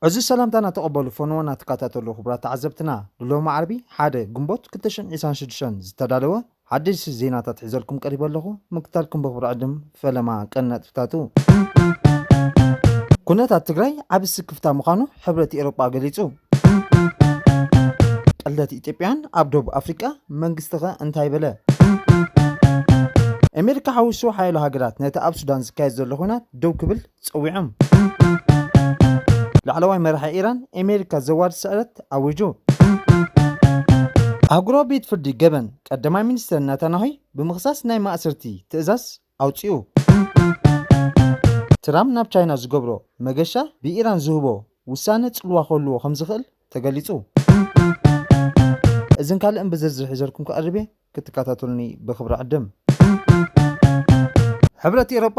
ዕዙዝ ሰላምታና ተቐበሉ ፈነወና ትከታተሉ ክቡራት ተዓዘብትና ንሎሚ ዓርቢ ሓደ ግንቦት 226 ዝተዳለወ ሓደሽቲ ዜናታት ሒዘልኩም ቀሪበ ኣለኹ ምክታልኩም ብኽብሪ ዕድም ፈለማ ቀንዲ ነጥብታቱ። ኩነታት ትግራይ ዓቢ ስክፍታ ምዃኑ ሕብረት ኤሮጳ ገሊጹ። ቅልደት ኢትዮጵያውያን ኣብ ደቡብ ኣፍሪቃ፣ መንግስቲ'ኸ እንታይ በለ? ኣሜሪካ ሓዊሱ ሓያሎ ሃገራት ነቲ ኣብ ሱዳን ዝካየድ ዘሎ ኹናት ደው ክብል ጸዊዖም። ላዕለዋይ መራሒ ኢራን ኣሜሪካ ዘዋርድ ስዕረት ኣዊጁ። ኣህጉራዊ ቤት ፍርዲ ገበን ቀዳማይ ሚኒስተር ናታናሆይ ብምኽሳስ ናይ ማእሰርቲ ትእዛዝ ኣውጺኡ። ትራም ናብ ቻይና ዝገብሮ መገሻ ብኢራን ዝህቦ ውሳነ ጽልዋ ክህልዎ ከምዝኽእል ተገሊጹ። እዝን ካልእን ብዝርዝር ሒዘልኩም ክቐርብ እየ ክትከታተሉኒ ብኽብሪ ዕድም። ሕብረት ኤሮጳ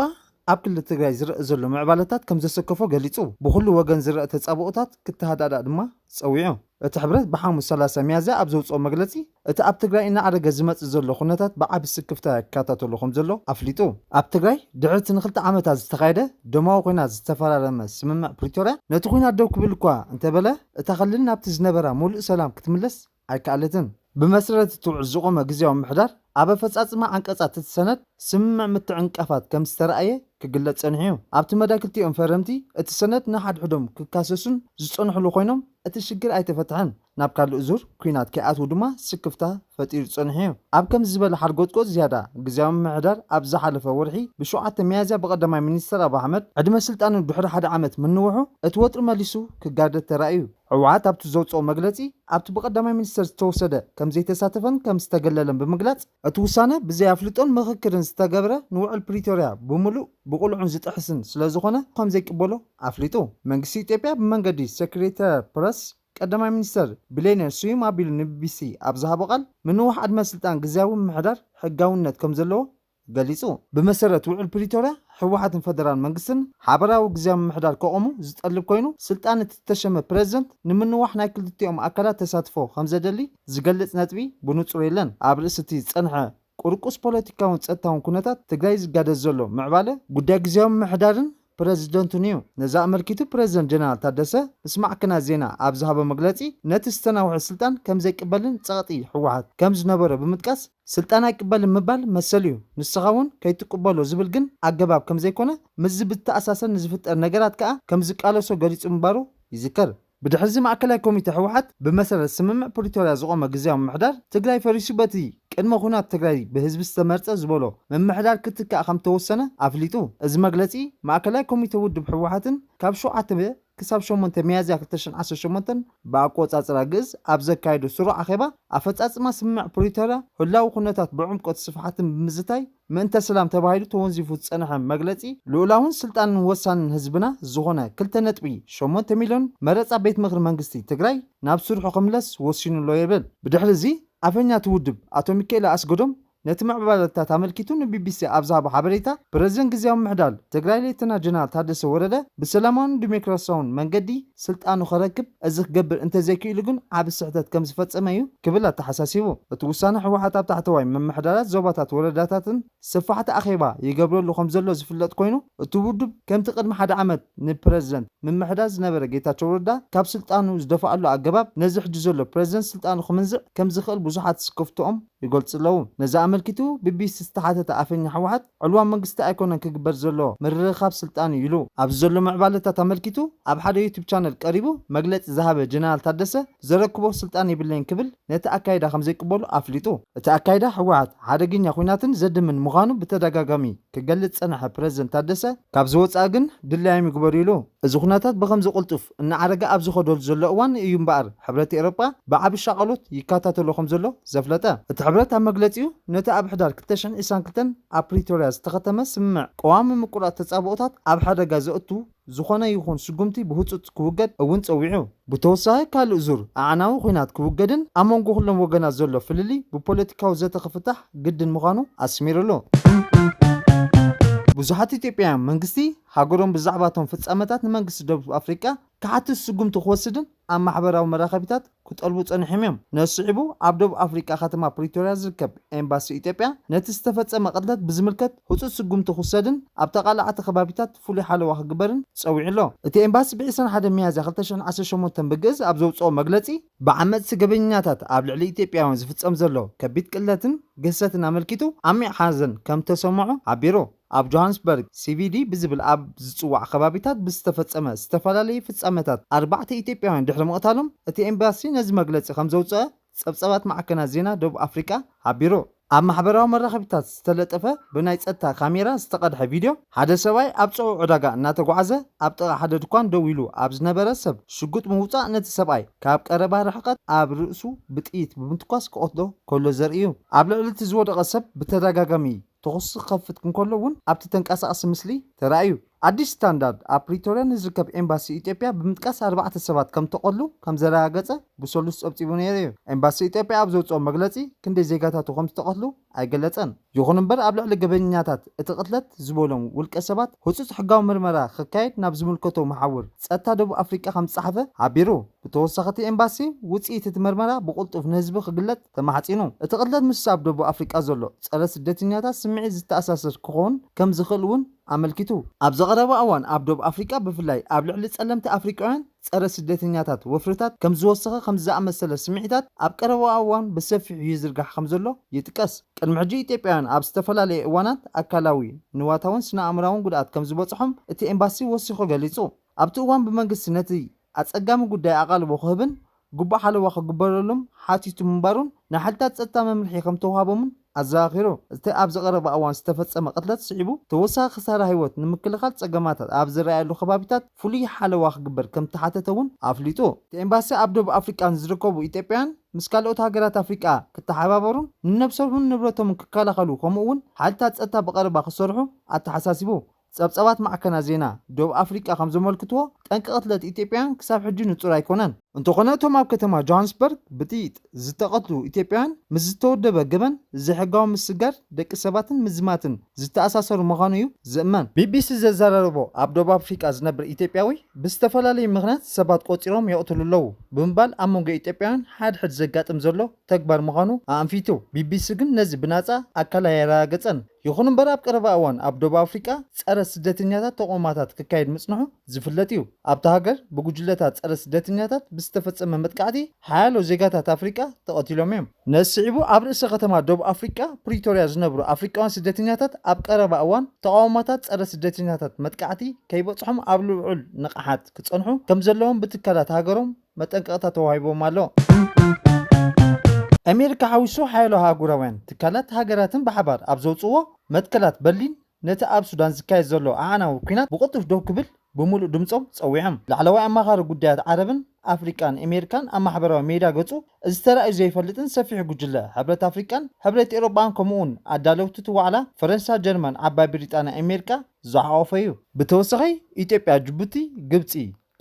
ኣብ ክልል ትግራይ ዝረእ ዘሎ ምዕባለታት ከምዘሰከፎ ገሊጹ። ብኹሉ ወገን ዝረእ ተጻብኦታት ክተሃዳዳእ ድማ ጸዊዑ። እቲ ሕብረት ብሓሙስ ሰላሳ ሚያዝያ ኣብ ዘውጽኦ መግለጺ፣ እቲ ኣብ ትግራይ እናዓረገ ዝመጽእ ዘሎ ኩነታት ብዓቢ ስክፍታ ይከታተሎ ከምዘሎ ኣፍሊጡ። ኣብ ትግራይ ድሕሪ እቲ ንክልተ ዓመታት ዝተኻየደ ደማዊ ኹናት ዝተፈራረመ ስምምዕ ፕሪቶርያ፣ ነቲ ኹናት ደው ክብል እኳ እንተበለ፣ እታ ክልል ናብቲ ዝነበራ ሙሉእ ሰላም ክትምለስ ኣይከኣለትን። ብመሰረት እቲ ውዕል ዝቖመ ግዝያዊ ምምሕዳር፣ ኣብ ኣፈጻጽማ ዓንቀጻት እቲ ሰነድ ስምምዕ ምትዕንቃፋት ከም ዝተራእየ ክግለጽ ጸኒሑ'ዩ። ኣብቲ መዳይ ክልቲኦም ፈረምቲ እቲ ሰነድ ንሓድሕዶም ክካሰሱን ዝጸንሑሉ ኮይኖም፣ እቲ ሽግር ኣይተፈትሐን። ናብ ካልእ ዙር ኲናት ከይኣትዉ ድማ ስክፍታ ፈጢሩ ጸኒሑ'ዩ። ኣብ ከምዚ ዝበለ ሓርጎጽጎጽ ዝያዳ፣ ግዝያዊ ምምሕዳር ኣብ ዝሓለፈ ወርሒ ብሸውዓተ ሚያዝያ ብቀዳማይ ሚኒስተር ኣቡ ኣሕመድ ዕድመ ስልጣኑ ድሕሪ ሓደ ዓመት ምንውሑ እቲ ወጥሪ መሊሱ ክጋደድ ተራእዩ። ህወሓት ኣብቲ ዘውፀኦ መግለፂ ኣብቲ ብቀዳማይ ሚኒስትር ዝተወሰደ ከምዘይተሳተፈን ከምዝተገለለን ብምግላፅ እቲ ውሳነ ብዘይ ኣፍልጦን ምኽክርን ዝተገብረ ንውዕል ፕሪቶርያ ብሙሉእ ብቅሉዕን ዝጥሕስን ስለዝኾነ ከምዘይቅበሎ ኣፍሊጡ። መንግስቲ ኢትዮጵያ ብመንገዲ ሴክሬተሪያት ፕረስ ቀዳማይ ሚኒስትር ቢሌኔ ስዩም ኣቢሉ ንቢቢሲ ኣብ ዝሃቦ ቃል ምንዋሕ ዕድመ ስልጣን ግዝያዊ ምምሕዳር ሕጋዊነት ከምዘለዎ ገሊጹ። ብመሰረት ውዕል ፕሪቶርያ ህወሓትን ፈደራል መንግስትን ሓበራዊ ግዝያዊ ምምሕዳር ከቖሙ ዝጠልብ ኮይኑ፣ ስልጣን እቲ ዝተሸመ ፕረዚደንት ንምንዋሕ ናይ ክልቲኦም ኣካላት ተሳትፎ ከምዘደሊ ዝገልጽ ነጥቢ ብንጹር የለን። ኣብ ርእሲ እቲ ዝጸንሐ ቁርቁስ ፖለቲካውን ጸጥታውን ኩነታት ትግራይ ዝጋደድ ዘሎ ምዕባለ፣ ጉዳይ ግዝያዊ ምምሕዳርን ፕረዚደንቱን'ዩ። ነዚ ኣመልኪቱ ፕረዚደንት ጀነራል ታደሰ ምስ ማዕከናት ዜና ኣብ ዝሃቦ መግለጺ፣ ነቲ ዝተናውሐ ስልጣን ከምዘይቅበልን ጸቕጢ ህወሓት ከምዝነበሮ ብምጥቃስ፣ ስልጣን ኣይቅበልን ምባል መሰል'ዩ፣ ንስኻ'ውን ከይትቅበሎ ዝብል ግን ኣገባብ ከምዘይኮነ፣ ምስዚ ብዝተኣሳሰር ንዝፍጠር ነገራት ከኣ ከምዝቃለሶ ገሊጹ ምንባሩ ይዝከር። ብድሕሪዚ ማእከላይ ኮሚቴ ህወሓት ብመሰረት ስምምዕ ፕሪቶርያ ዝቖመ ግዝያዊ ምምሕዳር ትግራይ ፈሪሱ በቲ ቅድመ ኹናት ትግራይ ብህዝቢ ዝተመርፀ ዝበሎ ምምሕዳር ክትካእ ከምተወሰነ ኣፍሊጡ። እዚ መግለፂ ማእከላይ ኮሚቴ ውድብ ህወሓትን ካብ ሸውዓተ ክሳብ ሸሞንተ ሚያዝያ ክልተ ሽሕ ዓሰርተ ሸሞንተ ብኣቆፃፅራ ግእዝ ኣብ ዘካየዶ ስሩዕ ኣኼባ ኣፈፃፅማ ስምምዕ ፕሪቶርያ ህላዊ ኩነታት ብዕምቆት ስፍሓትን ብምዝታይ ምእንተ ስላም ተባሂሉ ተወንዚፉ ዝጸንሐ መግለጺ ልኡላውን ስልጣንን ወሳንን ህዝብና ዝኾነ ክልተ ነጥቢ ሸሞንተ ሚልዮን መረጻ ቤት ምኽሪ መንግስቲ ትግራይ ናብ ስርሑ ክምለስ ወሲኑ ኣሎ የብል። ብድሕሪ እዚ ኣፈኛ እቲ ውድብ ኣቶ ሚኪኤለ ኣስገዶም ነቲ ምዕባለታት ኣመልኪቱ ንቢቢሲ ኣብ ዝሃቦ ሓበሬታ ፕረዚደንት ግዝያዊ ምሕዳል ትግራይ ሌተና ጀነራል ታደሰ ወረደ ብሰላማውን ዲሞክራሲያውን መንገዲ ስልጣኑ ከረክብ እዚ ክገብር እንተዘይክኢሉ ግን ዓቢ ስሕተት ከምዝፈጸመ እዩ ክብል ኣተሓሳሲቡ። እቲ ውሳነ ህወሓት ኣብ ታሕተዋይ ምምሕዳራት ዞባታት ወረዳታትን ሰፋሕቲ ኣኼባ ይገብረሉ ከምዘሎ ዝፍለጥ ኮይኑ እቲ ውድብ ከምቲ ቅድሚ ሓደ ዓመት ንፕረዚደንት ምምሕዳር ዝነበረ ጌታቸው ረዳ ካብ ስልጣኑ ዝደፋኣሉ ኣገባብ ነዚ ሕጂ ዘሎ ፕረዚደንት ስልጣኑ ክምንዝዕ ከምዝኽእል ብዙሓት ስክፍትኦም ይገልጹ'ለዉ። ነዚ ኣመልኪቱ ቢቢሲ ዝተሓተተ ኣፈኛ ህወሓት፣ ዕልዋ መንግስቲ ኣይኮነን ክግበር ዘሎ፣ ምርኽኻብ ስልጣን'ዩ ኢሉ። ኣብዚ ዘሎ ምዕባለታት ኣመልኪቱ ኣብ ሓደ ዩቱብ ቻነል ቀሪቡ መግለጺ ዝሃበ ጀነራል ታደሰ፣ ዘረክቦ ስልጣን የብለይን ክብል ነቲ ኣካይዳ ከምዘይቅበሎ ኣፍሊጡ። እቲ ኣካይዳ ህወሓት ሓደገኛ ኹናትን ዘድምን ምዃኑ ብተደጋጋሚ ክገልጽ ዝጸንሐ ፕረዚደንት ታደሰ፣ ካብዚ ወጻኢ ግን ድላዮም ይግበሩ ኢሉ። እዚ ኩነታት ብኸምዚ ቅልጡፍ እናዓረገ ኣብ ዝኸደሉ ዘሎ እዋን እዩ እምበኣር ሕብረት ኤውሮጳ ብዓቢ ሻቐሎት ይከታተሎ ከም ዘሎ ዘፍለጠ። እቲ ሕብረት ኣብ መግለጺኡ፣ ነቲ ኣብ ሕዳር ክልተ ሽሕን ዕስራን ክልተን ኣብ ፕሪቶርያ ዝተኸተመ ስምምዕ ቀዋሚ ምቁራጽ ተጻብኦታት ኣብ ሓደጋ ዘእቱ ዝኾነ ይኹን ስጉምቲ ብህጹጽ ክውገድ እውን ጸዊዑ። ብተወሳኺ ካልእ ዙር ኣዕናዊ ኲናት ክውገድን ኣብ መንጎ ኩሎም ወገናት ዘሎ ፍልልይ ብፖለቲካዊ ዘተ ክፍታሕ ግድን ምዃኑ ኣስሚርሉ። ብዙሓት ኢትዮጵያውያን መንግስቲ ሃገሮም ብዛዕባ እቶም ፍጻመታት ንመንግስቲ ደቡብ ኣፍሪቃ ክሓትት ስጉምቲ ክወስድን ኣብ ማሕበራዊ መራኸቢታት ክጠልቡ ጸኒሖም እዮም። ነዚ ስዒቡ ኣብ ደቡብ ኣፍሪቃ ከተማ ፕሪቶርያ ዝርከብ ኤምባሲ ኢትዮጵያ ነቲ ዝተፈጸመ ቅትለት ብዝምልከት ህጹጽ ስጉምቲ ክውሰድን ኣብ ተቓላዕቲ ከባቢታት ፍሉይ ሓለዋ ክግበርን ጸዊዑ ኣሎ። እቲ ኤምባሲ ብ ዕስራን ሓደን ሚያዝያ ክልተ ሽሕን ዓሰርተ ሸሞንተን ብግእዝ ኣብ ዘውጽኦ መግለጺ፣ ብዓመጽቲ ገበኛታት ኣብ ልዕሊ ኢትዮጵያውያን ዝፍጸም ዘሎ ከቢድ ቅትለትን ግህሰትን ኣመልኪቱ ዓሚቕ ሓዘን ከምዝተሰምዖ ሓቢሩ። ኣብ ጆሃንስበርግ ሲቪዲ ብዝብል ኣብ ዝጽዋዕ ከባቢታት ብዝተፈጸመ ዝተፈላለየ ፍጻመታት ኣርባዕተ ኢትዮጵያውያን ድሕሪ ምቕታሎም እቲ ኤምባሲ ነዚ መግለጺ ከምዘውጽኣ ጸብጻባት ማዕከናት ዜና ደቡብ ኣፍሪቃ ሓቢሩ። ኣብ ማሕበራዊ መራኸቢታት ዝተለጠፈ ብናይ ጸጥታ ካሜራ ዝተቐድሐ ቪድዮ፣ ሓደ ሰብኣይ ኣብ ጽዑቕ ዕዳጋ እናተጓዕዘ ኣብ ጥቓ ሓደ ድኳን ደው ኢሉ ኣብ ዝነበረ ሰብ ሽጉጥ ብምውጻእ ነቲ ሰብኣይ ካብ ቀረባ ርሕቀት ኣብ ርእሱ ብጥይት ብምትኳስ ክቐትሎ ከሎ ዘርኢ'ዩ። ኣብ ልዕሊ እቲ ዝወደቐ ሰብ ብተደጋጋሚ ተኹሲ ክኸፍት እንከሎ እውን ኣብቲ ተንቀሳቓሲ ምስሊ ተራእዩ። ኣዲስ ስታንዳርድ ኣብ ፕሪቶርያ ንዝርከብ ኤምባሲ ኢትዮጵያ ብምጥቃስ ኣርባዕተ ሰባት ከም ተቐትሉ ከም ዘረጋገጸ ብሰሉስ ጸብጺቡ ነይሩ'ዩ። ኤምባሲ ኢትዮጵያ ኣብ ዘውጽኦ መግለጺ ክንደይ ዜጋታቱ ከም ዝተቐትሉ ኣይገለጸን። ይኹን እምበር ኣብ ልዕሊ ገበኛታት እቲ ቅትለት ዝበሎም ውልቀ ሰባት ህጹጽ ሕጋዊ ምርመራ ክካየድ ናብ ዝምልከቶ መሓውር ጸጥታ ደቡብ ኣፍሪቃ ከም ዝጸሓፈ ሓቢሩ። ብተወሳኺ እቲ ኤምባሲ ውጽኢት እቲ መርመራ ብቕልጡፍ ንህዝቢ ክግለጽ ተማሕጺኑ። እቲ ቅትለት ምስ ኣብ ደቡብ ኣፍሪቃ ዘሎ ጸረ ስደተኛታት ስምዒት ዝተኣሳሰር ክኾን ከም ዝኽእል እውን ኣመልኪቱ። ኣብዚ ቀረባ እዋን ኣብ ደቡብ ኣፍሪቃ ብፍላይ ኣብ ልዕሊ ጸለምቲ ኣፍሪቃውያን ጸረ ስደተኛታት ወፍርታት ከም ዝወሰኸ ከምዚ ዝኣመሰለ ስምዒታት ኣብ ቀረባ እዋን ብሰፊሑ ይዝርጋሕ ከም ዘሎ ይጥቀስ። ቅድሚ ሕጂ ኢትዮጵያውያን ኣብ ዝተፈላለየ እዋናት ኣካላዊ፣ ንዋታውን ስነ ኣእምራውን ጉድኣት ከም ዝበጽሖም እቲ ኤምባሲ ወሲኹ ገሊጹ። ኣብቲ እዋን ብመንግስቲ ነቲ ኣጸጋሚ ጉዳይ ኣቓልቦ ክህብን ግቡእ ሓለዋ ክግበረሉም ሓቲቱ ምንባሩን ንሓይልታት ጸጥታ መምርሒ ከምተውሃቦምን ኣዘኻኺሩ። እቲ ኣብዚ ቀረባ እዋን ዝተፈጸመ ቅትለት ስዒቡ ተወሳኺ ክሳራ ህይወት ንምክልኻል ጸገማታት ኣብ ዝረኣየሉ ከባቢታት ፍሉይ ሓለዋ ክግበር ከምተሓተተ'ውን ኣፍሊጡ። እቲ ኤምባሲ ኣብ ደቡብ ኣፍሪቃ ንዝርከቡ ኢትዮጵያውያን ምስ ካልኦት ሃገራት ኣፍሪቃ ክተሓባበሩን ንነብሶምን ንብረቶምን ክከላኸሉ ከምኡ'ውን ሓይልታት ጸጥታ ብቐረባ ክሰርሑ ኣተሓሳሲቡ። ጸብጻባት ማዕከናት ዜና ዶብ ኣፍሪቃ ከም ዘመልክትዎ፣ ጠንቂ ቅትለት ኢትዮጵያውያን ክሳብ ሕጂ ንጹር ኣይኮነን። እንተኾነ እቶም ኣብ ከተማ ጆሃንስበርግ ብጥይጥ ዝተቐትሉ ኢትዮጵያውያን ምስ ዝተወደበ ገበን ዘይሕጋዊ ምስግጋር ደቂ ሰባትን ምዝማትን ዝተኣሳሰሩ ምዃኑ'ዩ ዝእመን። ቢቢሲ ዘዘራረቦ ኣብ ዶብ ኣፍሪቃ ዝነብር ኢትዮጵያዊ፣ ብዝተፈላለዩ ምኽንያት ሰባት ቆጺሮም የቕትሉ ኣለዉ ብምባል ኣብ መንጎ ኢትዮጵያውያን ሓድሕድ ዘጋጥም ዘሎ ተግባር ምዃኑ ኣኣንፊቱ። ቢቢሲ ግን ነዚ ብናጻ ኣካል ኣየረጋገጸን። ይኹን እምበር ኣብ ቀረባ እዋን ኣብ ዶብ ኣፍሪቃ ጸረ ስደተኛታት ተቕውማታት ክካየድ ምጽንሑ ዝፍለጥ እዩ። ኣብታ ሃገር ብጉጅለታት ጸረ ስደተኛታት ብዝተፈጸመ መጥቃዕቲ ሓያሎ ዜጋታት ኣፍሪቃ ተቐቲሎም እዮም። ነዚ ስዒቡ ኣብ ርእሰ ከተማ ዶብ ኣፍሪቃ ፕሪቶርያ ዝነብሩ ኣፍሪቃውያን ስደተኛታት ኣብ ቀረባ እዋን ተቓውሞታት ጸረ ስደተኛታት መጥቃዕቲ ከይበጽሖም ኣብ ልዑል ንቕሓት ክጸንሑ ከምዘለዎም ብትካላት ሃገሮም መጠንቀቕታ ተዋሂቡዎም ኣሎ። ኣሜሪካ ሓዊሱ ሓያሎ ኣህጉራውያን ትካላት ሃገራትን ብሓባር ኣብ ዘውጽእዎ መትከላት በርሊን ነቲ ኣብ ሱዳን ዝካየድ ዘሎ ኣዕናዊ ኲናት ብቕልጡፍ ደው ክብል ብምሉእ ድምጾም ጸዊዖም። ላዕለዋይ ኣማኻሪ ጉዳያት ዓረብን ኣፍሪቃን ኣሜሪካን ኣብ ማሕበራዊ ሜዳ ገጹ እዚ ተራእዩ ዘይፈልጥን ሰፊሕ ጉጅለ ሕብረት ኣፍሪቃን ሕብረት ኤውሮጳን ከምኡ'ውን ኣዳለውቲ እቲ ዋዕላ ፈረንሳ ጀርመን ዓባይ ብሪጣንያ ኣሜሪካ ዝሓቖፈ'ዩ። ብተወሳኺ ኢትዮጵያ ጅቡቲ ግብጺ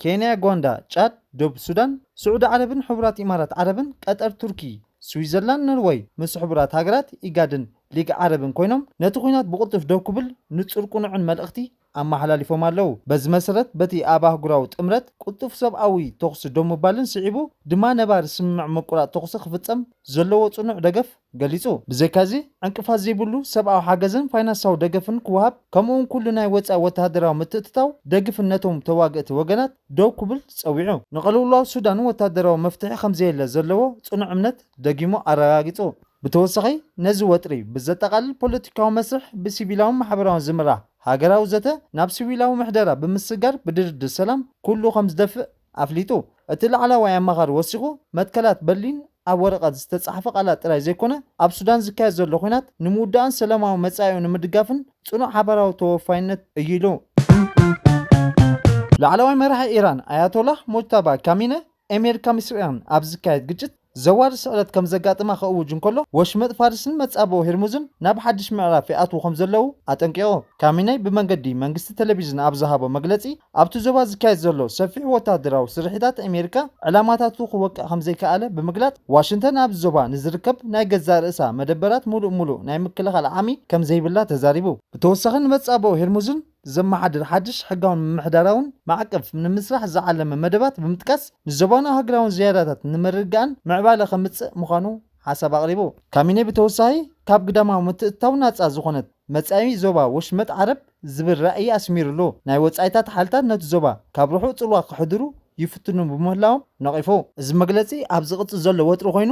ኬንያ፣ ጓንዳ፣ ጫድ፣ ዶብ ሱዳን፣ ስዑዲ ዓረብን ሕቡራት ኢማራት ዓረብን፣ ቀጠር፣ ቱርኪ፣ ስዊዘርላንድ፣ ኖርወይ፣ ምስ ሕቡራት ሃገራት፣ ኢጋድን ሊግ ዓረብን ኮይኖም ነቲ ኹናት ብቕልጡፍ ደው ክብል ንጹር ቁኑዕን መልእኽቲ ኣመሓላሊፎም ኣለው። በዚ መሰረት በቲ ኣብ ኣህጉራዊ ጥምረት ቅልጡፍ ሰብኣዊ ተኹሲ ደው ምባልን ስዒቡ ድማ ነባሪ ስምምዕ ምቁራጽ ተኹሲ ክፍጸም ዘለዎ ጽኑዕ ደገፍ ገሊጹ። ብዘይካ'ዚ ዕንቅፋት ዘይብሉ ሰብኣዊ ሓገዝን ፋይናንሳዊ ደገፍን ክወሃብ ከምኡ'ውን ኩሉ ናይ ወጻኢ ወተሃደራዊ ምትእትታው ደግፍን ነቶም ተዋግእቲ ወገናት ደው ክብል ጸዊዑ። ንቅልውላው ሱዳን ወተሃደራዊ መፍትሒ ከምዘየለ ዘለዎ ጽኑዕ እምነት ደጊሙ ኣረጋጊጹ። ብተወሳኺ ነዚ ወጥሪ ብዘጠቓልል ፖለቲካዊ መስርሕ ብሲቪላውን ማሕበራውን ዝምራሕ ሃገራዊ ዘተ ናብ ሲዊላዊ ምሕደራ ብምስግጋር ብድርድር ሰላም ኩሉ ከምዝደፍእ ኣፍሊጡ። እቲ ላዕላዋይ ኣማኻሪ ወሲኹ፣ መትከላት በርሊን ኣብ ወረቐት ዝተጻሕፈ ቃላት ጥራይ ዘይኮነ፣ ኣብ ሱዳን ዝካየድ ዘሎ ኲናት ንምውዳእን ሰላማዊ መጻኢኡ ንምድጋፍን ጽኑዕ ሓባራዊ ተወፋይነት እዩ ኢሉ። ላዕለዋይ መራሒ ኢራን ኣያቶላህ ሞጅታባ ካሚነ፣ ኤሜርካ ምስ ኢራን ኣብ ዝካየድ ግጭት፣ ዘዋሪ ስዕረት ከም ዘጋጥማ ክእውጅ እንከሎ፣ ወሽመጥ ፋርስን መጻብቦ ሄርሙዝን ናብ ሓድሽ ምዕራፍ ይኣትዉ ከም ዘለዉ ኣጠንቂቑ። ካሚነይ ብመንገዲ መንግስቲ ተለቪዥን ኣብ ዝሃቦ መግለጺ፣ ኣብቲ ዞባ ዝካየድ ዘሎ ሰፊሕ ወተሃደራዊ ስርሒታት ኣሜሪካ ዕላማታቱ ክወቅዕ ከም ዘይከኣለ ብምግላጽ፣ ዋሽንተን ኣብዚ ዞባ ንዝርከብ ናይ ገዛእ ርእሳ መደበራት ምሉእ ምሉእ ናይ ምክልኻል ዓቕሚ ከም ዘይብላ ተዛሪቡ። ብተወሳኺ ንመጻብቦ ሄርሙዝን ዘመሓድር ሓድሽ ሕጋውን ምምሕዳራውን ማዕቀፍ ንምስራሕ ዝዓለመ መደባት ብምጥቃስ ንዞባናዊ ሃገራውን ዝያዳታት ንምርግጋእን ምዕባለ ከምፅእ ምዃኑ ሓሳብ ኣቕሪቡ። ካሚኔ ብተወሳኺ ካብ ግዳማዊ ምትእትታው ናፃ ዝኾነት መፃኢ ዞባ ወሽመጥ ዓረብ ዝብል ራእይ ኣስሚርሉ። ናይ ወፃኢታት ሓይልታት ነቲ ዞባ ካብ ርሑቕ ፅልዋ ከሕድሩ ይፍትኑ ብምህላዎም ነቒፉ። እዚ መግለፂ ኣብ ዝቕፅል ዘሎ ወጥሪ ኮይኑ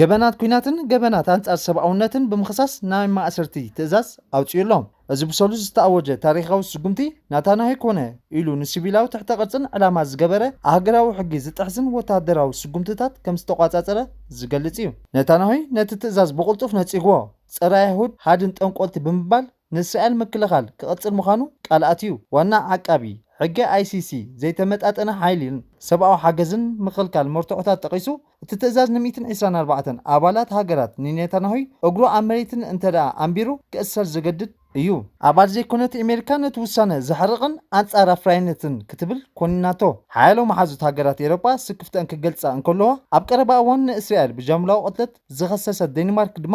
ገበናት ኲናትን ገበናት ኣንጻር ሰብኣውነትን ብምኽሳስ ናይ ማእሰርቲ ትእዛዝ ኣውጺኡ ኣሎ። እዚ ብሰሉስ ዝተኣወጀ ታሪኻዊ ስጉምቲ ናታናሂ ኮነ ኢሉ ንሲቪላዊ ትሕተ ቅርጽን ዕላማ ዝገበረ ኣህገራዊ ሕጊ ዝጥሕስን ወተሃደራዊ ስጉምትታት ከም ዝተቋጻጸረ ዝገልጽ እዩ። ነታናሂ ነቲ ትእዛዝ ብቕልጡፍ ነጺግዎ፣ ጸረ-ኣይሁድ፣ ሃድን ጠንቆልቲ ብምባል፣ ንእስራኤል ምክልኻል ክቕጽል ምዃኑ ቃል ኣትዩ። ዋና ዓቃቢ ሕገ ICC ዘይተመጣጠነ ሓይሊን ሰብኣዊ ሓገዝን ምኽልካል መርትዖታት ጠቒሱ፣ እቲ ትእዛዝ ንሚእትን ዒስራን ኣርባዕተን ኣባላት ሃገራት ንኔታንያሁይ እግሩ ኣብ መሬትን እንተደኣ ኣንቢሩ ክእሰር ዝገድድ እዩ። ኣባል ዘይኮነት ኤሜሪካ ነቲ ውሳነ ዘሕርቕን ኣንጻር ኣፍራይነትን ክትብል ኮኒናቶ። ሓያሎ መሓዙት ሃገራት ኤሮጳ ስክፍተኣን ክገልጻ እንከለዋ፣ ኣብ ቀረባ እዋን ንእስራኤል ብጃምላዊ ቅትለት ዝኸሰሰት ደኒማርክ ድማ፣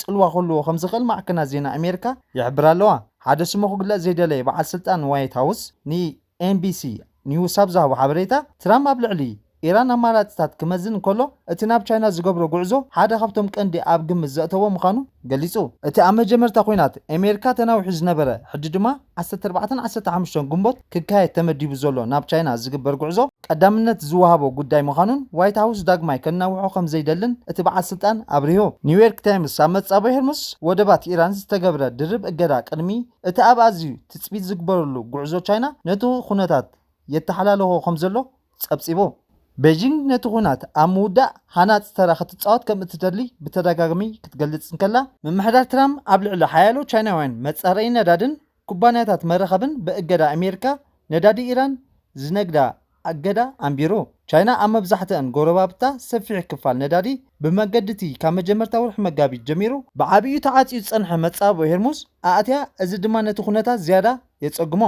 ጽልዋ ክህልዎ ከም ዝኽእል ማዕከናት ዜና ኣሜሪካ ይሕብራ ኣለዋ። ሓደ ስሙ ክግለጽ ዘይደለየ በዓል ስልጣን ዋይት ሃውስ ንኤንቢሲ ኒውስ ኣብ ዝሃቦ ሓበሬታ፣ ትራምፕ ኣብ ልዕሊ ኢራን ኣማራጺታት ክመዝን እንከሎ፣ እቲ ናብ ቻይና ዝገብሮ ጉዕዞ ሓደ ካብቶም ቀንዲ ኣብ ግምት ዘእተዎ ምዃኑ ገሊጹ። እቲ ኣብ መጀመርታ ኲናት ኣሜሪካ ተናዊሑ ዝነበረ ሕጂ ድማ ዓሰርተ ኣርባዕተን ዓሰርተ ሓሙሽተን ግንቦት ክካየድ ተመዲቡ ዘሎ ናብ ቻይና ዝግበር ጉዕዞ ቀዳምነት ዝወሃቦ ጉዳይ ምዃኑን ዋይት ሃውስ ዳግማይ ከናውሖ ከምዘይደልን እቲ በዓል ስልጣን ኣብሪሁ። ኒውዮርክ ታይምስ ኣብ መጻብቦ ሄርሙስ ወደባት ኢራን ዝተገብረ ድርብ እገዳ ቅድሚ እቲ ኣብ ኣዝዩ ትጽቢት ዝግበረሉ ጉዕዞ ቻይና ነቲ ኹነታት የተሓላልኾ ከምዘሎ ጸብጺቡ። ቤጂንግ ነቲ ኵናት ኣብ ምውዳእ ሃናጺ ተራ ክትጻወት ከም እትደሊ ብተደጋጋሚ ክትገልጽ እንከላ፣ ምምሕዳር ትራምፕ ኣብ ልዕሊ ሓያሎ ቻይናውያን መጻረዪ ነዳድን ኩባንያታት መራኸብን ብእገዳ ኣሜሪካ ነዳዲ ኢራን ዝነግዳ ኣገዳ ኣንቢሩ። ቻይና ኣብ መብዛሕትኣን ጎረባብታ ሰፊሕ ክፋል ነዳዲ ብመገዲ'ቲ ካብ መጀመርታ ወርሒ መጋቢት ጀሚሩ ብዓቢኡ ተዓጽዩ ዝጸንሐ መጻብቦ ሄርሙዝ ኣእትያ፣ እዚ ድማ ነቲ ኵነታት ዝያዳ የጸግሞ።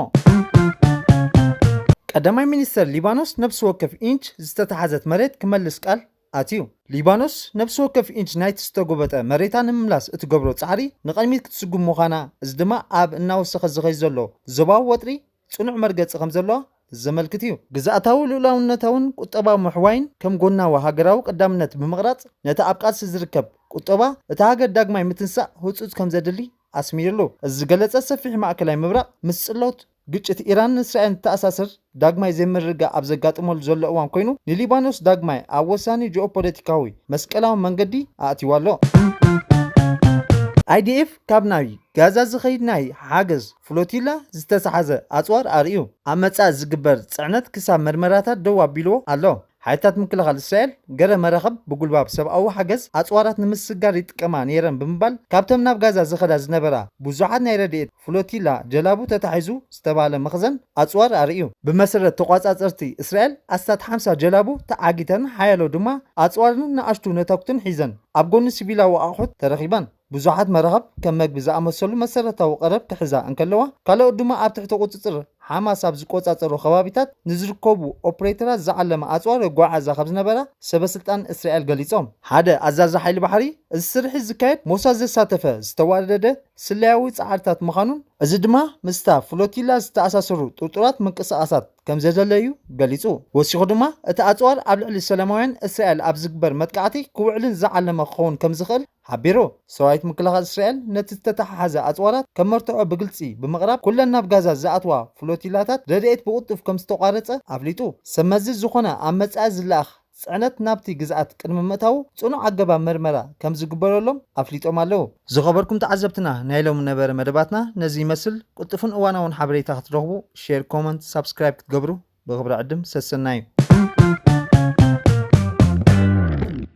ቀዳማይ ሚኒስተር ሊባኖስ ነብሲ ወከፍ ኢንች ዝተታሕዘት መሬት ክመልስ ቃል ኣትዩ። ሊባኖስ ነብሲ ወከፍ ኢንች ናይቲ ዝተጎበጠ መሬታ ንምምላስ እትገብሮ ጻዕሪ ንቐድሚት ክትስጉም ምዃና፣ እዚ ድማ ኣብ እናወሰኸ ዝኸይድ ዘሎ ዞባዊ ወጥሪ ጽኑዕ መርገጺ ከም ዘለዋ ዘመልክት እዩ። ግዝኣታዊ ልኡላውነታውን ቁጠባዊ ምሕዋይን ከም ጎናዊ ሃገራዊ ቀዳምነት ብምቕራጽ፣ ነቲ ኣብ ቃልሲ ዝርከብ ቁጠባ እታ ሃገር ዳግማይ ምትንሳእ ህጹጽ ከም ዘድሊ ኣስሚርሉ። እዚ ዝገለጸ ሰፊሕ ማእከላይ ምብራቕ ምስ ጽልሎት ግጭት ኢራንን እስራኤልን ዝተኣሳሰር ዳግማይ ዘይምርግጋእ ኣብ ዘጋጥመሉ ዘሎ እዋን ኮይኑ ንሊባኖስ ዳግማይ ኣብ ወሳኒ ጂኦፖለቲካዊ መስቀላዊ መንገዲ ኣእትይዋ ኣሎ። IDF ካብ ናብ ጋዛ ዝኸይድ ናይ ሓገዝ ፍሎቲላ ዝተታሕዘ ኣጽዋር ኣርእዩ። ኣብ መጻኢ ዝግበር ጽዕነት ክሳብ መርመራታት ደው ኣቢልዎ ኣሎ። ሓይልታት ምክልኻል እስራኤል ገለ መራኽብ ብጉልባብ ሰብኣዊ ሓገዝ ኣጽዋራት ንምስግጋር ይጥቀማ ነይረን ብምባል ካብተን ናብ ጋዛ ዝኸዳ ዝነበራ ብዙሓት ናይ ረድኤት ፍሎቲላ ጀላቡ ተታሒዙ ዝተባህለ መኽዘን ኣጽዋር ኣርእዩ። ብመሰረት ተቖጻጸርቲ እስራኤል ኣስታት ሓምሳ ጀላቡ ተዓጊተን ሓያሎ ድማ ኣጽዋርን ንኣሽቱ ነታጉትን ሒዘን ኣብ ጎኒ ሲቪላዊ ኣቑሑት ተረኺበን። ብዙሓት መራኽብ ከም መግቢ ዝኣመሰሉ መሰረታዊ ቀረብ ክሕዛ እንከለዋ፣ ካልኦት ድማ ኣብ ትሕቲ ቁጽጽር ሓማስ ኣብ ዝቆጻጸሮ ከባቢታት ንዝርከቡ ኦፕሬተራት ዝዓለመ ኣጽዋር የጓዓዕዛ ከምዝነበራ ሰበስልጣን እስራኤል ገሊጾም። ሓደ ኣዛዚ ሓይሊ ባሕሪ፣ እዚ ስርሒት ዝካየድ ሞሳድ ዘሳተፈ ዝተዋደደ ስለያዊ ጻዕርታት ምዃኑን፣ እዚ ድማ ምስታ ፍሎቲላ ዝተኣሳሰሩ ጥርጡራት ምንቅስቓሳት ከምዘደለዩ ገሊጹ። ወሲኹ ድማ እቲ ኣጽዋር ኣብ ልዕሊ ሰላማውያን እስራኤል ኣብ ዝግበር መጥቃዕቲ ክውዕልን ዝዓለመ ክኸውን ከምዝኽእል ሓቢሩ። ሰራዊት ምክልኻል እስራኤል ነቲ ዝተተሓሓዘ ኣጽዋራት ከም መርትዖ ብግልጺ ብምቕራብ፣ ኩለን ናብ ጋዛ ዝኣትዋ ፍሎቲላታት ረድኤት ብቕልጡፍ ከም ዝተቋረጸ ኣፍሊጡ። ሰብ መዚ ዝዀነ ኣብ መጻኢ ዝለኣኽ ጽዕነት ናብቲ ግዝኣት ቅድሚ ምእታዉ ጽኑዕ ኣገባብ መርመራ ከም ዝግበረሎም ኣፍሊጦም ኣለዉ። ዝኸበርኩም ተዓዘብትና ናይ ሎሚ ነበረ መደባትና ነዚ ይመስል ቅልጡፍን እዋናውን ሓበሬታ ክትረኽቡ ሼር ኮመንት ሳብስክራይብ ክትገብሩ ብኽብሪ ዕድም ሰሰናዩ።